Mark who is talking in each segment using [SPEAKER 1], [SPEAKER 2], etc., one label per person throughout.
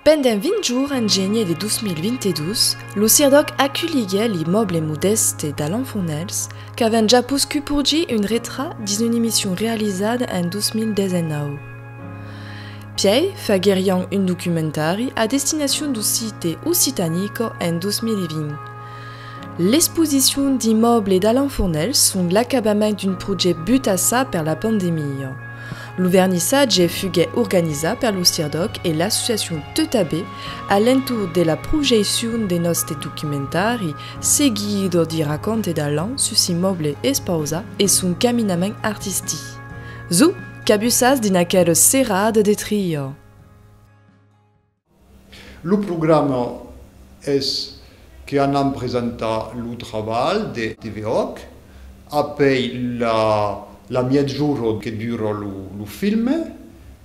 [SPEAKER 1] Pendent 20 jours en genier de 2022, lo CIRDOC aculhiguèt l'imòble modèste d'Alan Fournèls, qu'avèm ja poscut porgir un retrat dins una emission realizada en 2019. Pièi faguerián un documentari a destinacion d'Occite Occitanico en 2020. L'exposicion d'immòble d'Alain Fournel son l'acabament d'un projèct butassa per la pandemia. Lo vernissatge fuguèt organizat per lo CIRDOC e l'associacion Teutabé a l'entorn de la projeccion de nòste documentari Seguido di racconte d'Alain sus immòble Espausa e son caminament artistic. Zou! Qu'abussas dins aquel serrat de Trio! Lo programa es que anam presentar lo trabalh de TVOC apèi la miègjorn que dura lo film,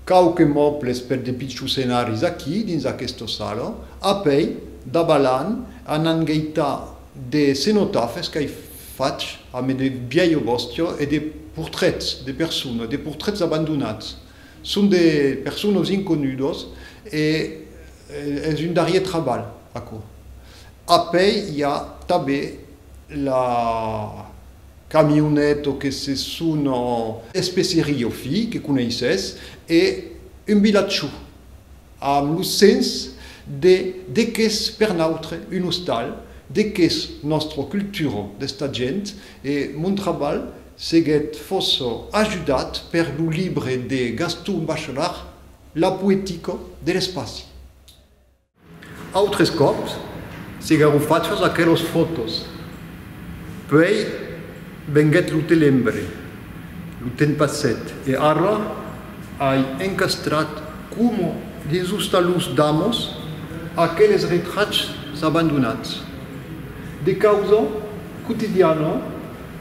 [SPEAKER 1] quauque mòbles per de pichus scenaris aquí dins aquesta sala, apèi davalan anan geitar de cenotafes qu'ai fach a me de vièlha bòstia e de portrets de personas, de portrets abandonats. Son de personas inconudas e es un darrier trabalh aquò. Apèi i a tabé la camioneta que se sona. Especeria o fi que coneisses e un vilatjò amb lo sens de de qu'es per nautre un ostal, de qu'es nòstra cultura d'esta gent e mon trabalh Seguèt fòça ajudat per lo libre de Gaston Bachelard La poétique de l'espaci. Autres còps se garofachas aquelos fòtos. Puèi venguèt lo telembre. Lo temps passèt e ara ai encastrat coma dins los talons d'amos aqueles retrachs abandonats. De causa quotidiana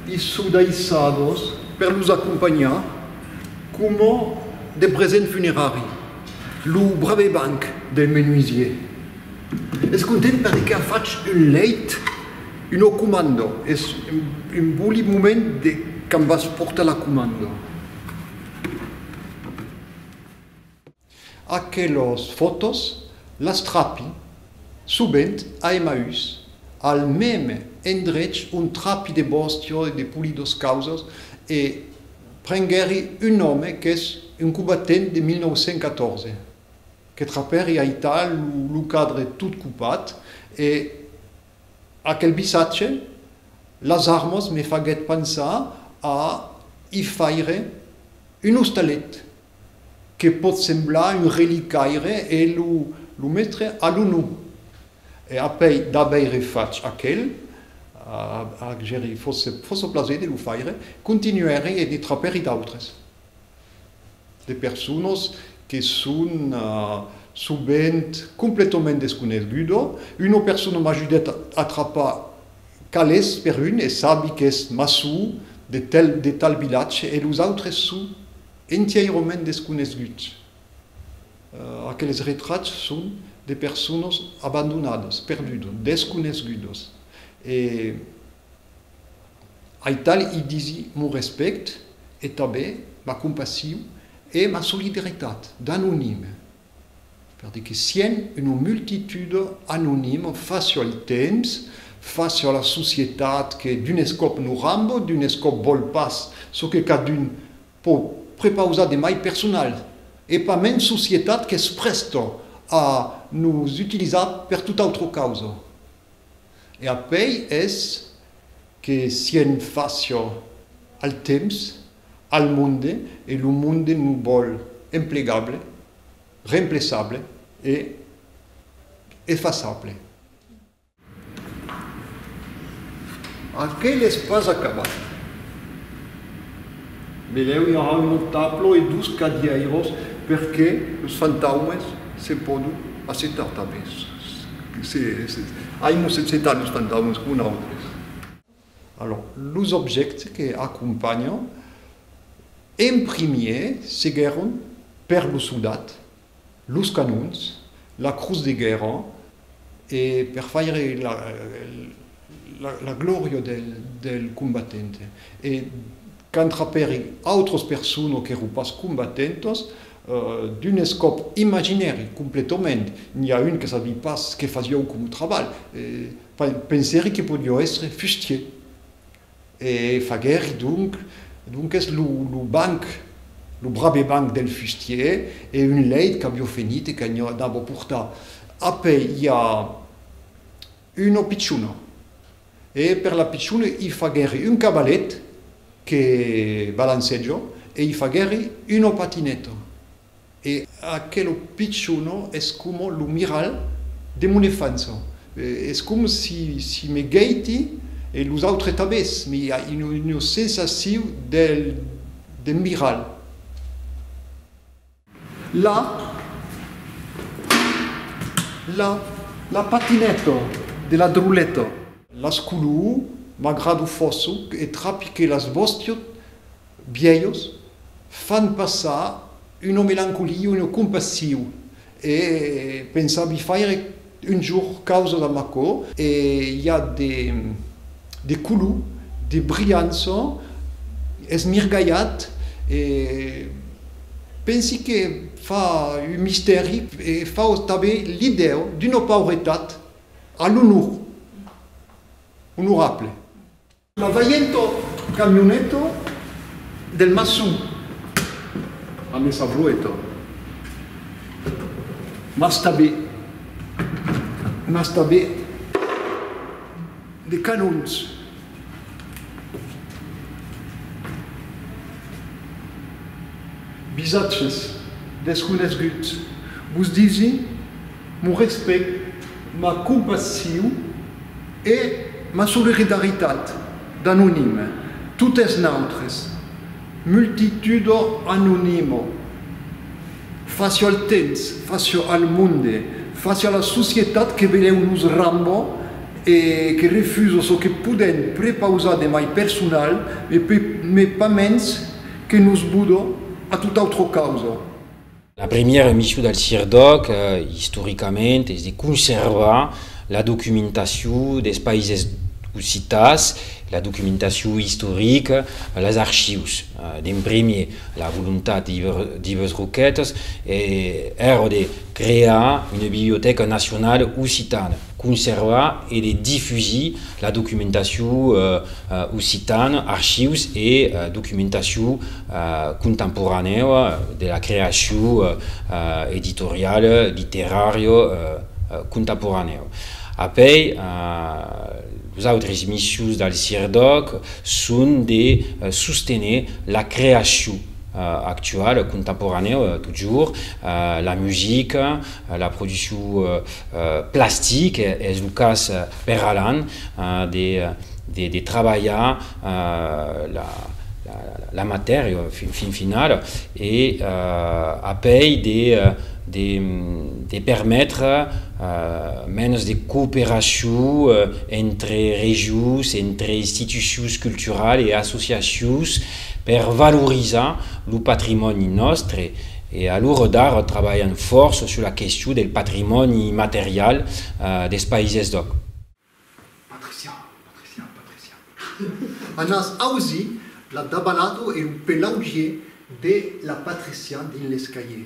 [SPEAKER 1] I sò daissados per los acompanhar coma de present funerari. Lo brave banc del menuisier es content perque a fach un leit, una comanda, es un boli moment de quand vas portar la comanda. Aquelos fòtos las trapi sovent a Emaús, al mème endrech ont trapi de bòstia e de polidos causas e prenguèri un òme qu'es un cobatent de 1914 que trapèri aital lo cadre tot copat e aquel visatge, las armas me faguèt pensar a i faire un ostalet. que pòt semblar un relicaire e lo metre a l'onu. E apèi d'aveire fach aquel, ac gèri fòça plaser de lo faire, continuèri e ne trapèri d'autres, de personas que son sovent completament desconegudas. Una persona m'ajudèt a trapar calés per un e sabi qu'es Masou de tal vilatge e los autres son Entièirament desconesgut. Aqueles retrats son de personas abandonadas, perdudas, desconesgudas. E aital i disi mon respèct e tanben ma compassion e ma solidaritat d'anonime. Per de que sien una multitude anonima fas sur el temps, fas sur la societat que d'un escòp lo rambo, d'un escòp vòl pas çò que cadun pò prepausar de mai personal e pas mens societat qu'es prèsta a nos utilizar per tota autra causa. E apèi es que sien fas sur el temps. al monde e lo monde nos vòl emplegable, remplaçable e efasable. Aquel es pas acabat. Melèu i aurà un autre tablo e dos cadièiros perque los fantaumes se pòdon assetar tanben. Ai nos assetat los fantaumes coma nautres. Alòrs, los objèctes que acompanhan, en primièr, seguèron per los soldats, los canons, la crotz de guèrra e per faire la glòria del combatent. E quand trapèri autras personas qu'èron pas combatentas, d'un escòp imaginèri, completament, n'i a un que sabi pas que fasiá un coma trabalh, Pas de pensèri que podió èstre fustier. E faguèri donc, donques, lo banc, lo brave banc del fustier, e un lèit qu'avió fenit e qu'anava portar apèi a una pichona. E per la pichona i faguèri un cavalèt que balancèja e i faguèri una patinèta. E aquelo pichonó es coma lo miralh de mon enfança. Es com si me gèiti e los autres tabés, me i a ua sensaciu de miralh. La, la, la patineta de la droleta. Las color, m'agrado fòssoc e trapique las vòstiot Bièlhos fan passar una melancolia, una compassiu e pensavi faire un jorn causa damb aquò e i a de de color, de brilhança, es mirgalhat e pensi que fa un mistèri e fa tanben l'idèu d'una pauretat a l'onor, onorable. Lo vaiento camioneto del maçon a me sa brueto, mas tabé, mas tabé de canons. Visatges desconesguts, vos disi Mon respèct, ma compassiu e ma soliridaritat d'anonime, totes nautres, multitudo anonimo, facio al temps, facio al monde, facio a la societat que velèu nos rambo e que refuso çò que podèn prepausar de mai personal e pas mens que nos budo a tot autre causa. La premiera missiu del CIRDOC, istoricament, es de conservar la documentaciu des paises occitans, la documentaciu istorica, les archius. D'en premier, la volontat d'Ives Roquette èra de crear una bibliotèca nacionala occitana. conservar e de difusir la documentacion occitana, archius e documentacion contemporanèu de la creacion editoriala, literària contemporanèu. Apèi, los autres missions del CIRDOC son de sostener la creacion actuala, contemporanèu totjorn, la musica, La produccion plastic es lo cas per Alan de trabalhar la matèria fin finala e apèi de permetre mens de cooperacion entre regions, entre institucions culturalas e associacions per valorizar lo patrimòni nòstre. E a l'ora d'ara trabalhan fòrça sus la question del patrimòni immaterial dels Païses d'Òc. Patricia, Patricia, Patricia. A nas ausi la dabalato e lo pelaugier de la Patricia dins l'escalier.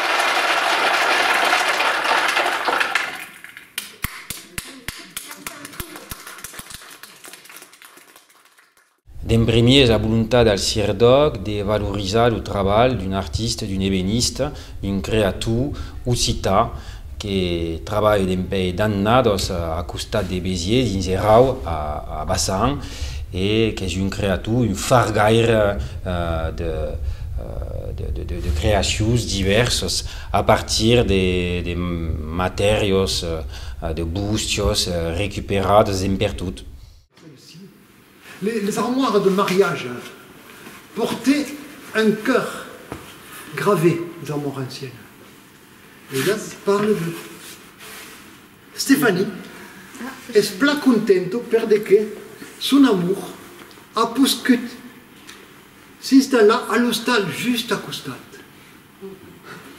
[SPEAKER 1] D'en primièr, la volontat del CIRDÒC de valorizar lo trabalh d'un artista, d'un ebenista, d'un creator occitan, que trabalhe dempèi d'annadas a costat de Béziers dins Erau a Bassan e qu'es un creator, un fargaire de creacions divèrsas a partir de matèrias, de bustias recuperadas dempertot. Les armoires de mariage portaient un cœur gravé, les armoires anciennes. Ellas parlent de Stéphanie es plan contento per de que son amor a poscut s'installar a l'ostal just a costat.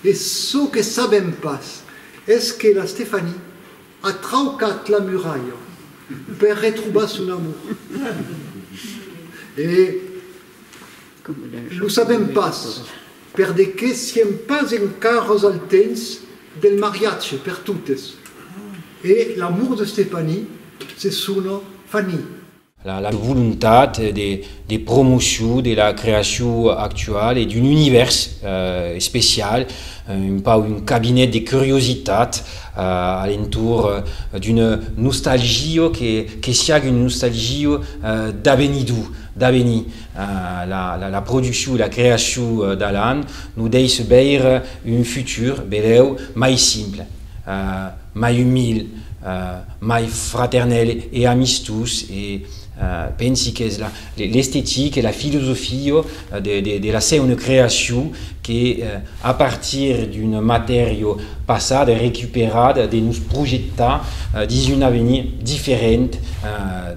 [SPEAKER 1] E çò que sabèm pas es que la Stephanie a traucat la muralha per retrobar son amor. E lo sabèm pas per de que siem pas encaras al temps del mariatge per totes e l'amor de Stephanie se sona Fanny. La volontat de promocion de la creacion actuala e d'un univèrs especial, un pauc un cabinet de curiositat a l'entorn d'una nostalgia que siágue una nostalgia d'avenidor, d'avenir. La produccion e la creacion d'Alan nos dèisse veire un futur, benlèu, mai simple. mai umil, mai fraternèl e amistós e pensi qu'es l'estetic e la filosofia de la seuna creacion que a partir d'un matèria passada e recuperada de nos projetar dins un avenir diferent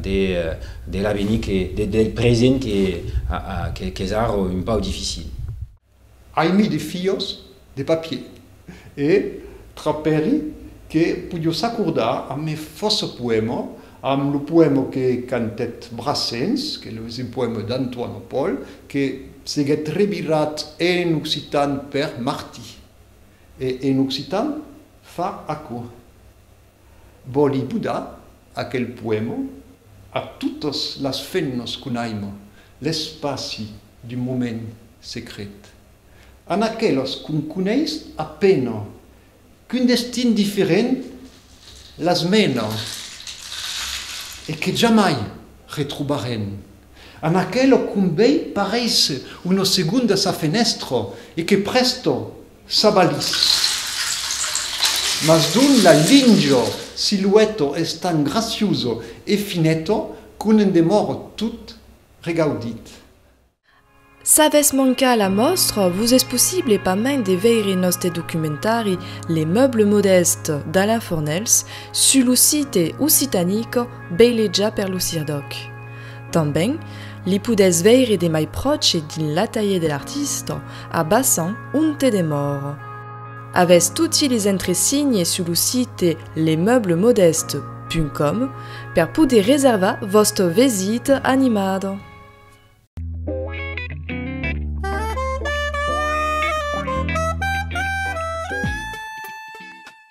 [SPEAKER 1] de l'avenir del present qu'es ara un pauc dificil. Ai mis de fios de papier e trapèri que poido s'acordar amb me fòça poèma, amb lo poèma que cantèt Brassens, que es un poèma d'Antoine Paul, que seguèt revirat en occitan per Martí. E en occitan fa aquò. Vòli budar aquel poèma a totas las femnas qu'on aima, l'espaci d'un moment secret. An aquelas qu'on coneis a pena, qu'un destin diferent las mena e que jamai retrobarem. An aquela qu'on vei paréisser una segonda sa fenèstra e que prèsta Sabalís. Mas d'un la linjo silueto es tan gracioso e fineto qu' ne'n demòro tot regaudit. S'avètz mancat la mòstra, vos es possible pas main de veire nòste documentari Les meubles modestes d'Alain Fornells sus lo site occitanique Beilejar per lo Sirdòc. Tanben, li podètz veire de mai pròche dins l'atelier de l'artista, a Bassan, onte demòr. Avètz toti les entresignes sus lo site lesmeublemodestes.com per poder reservar vòstra vesita animada.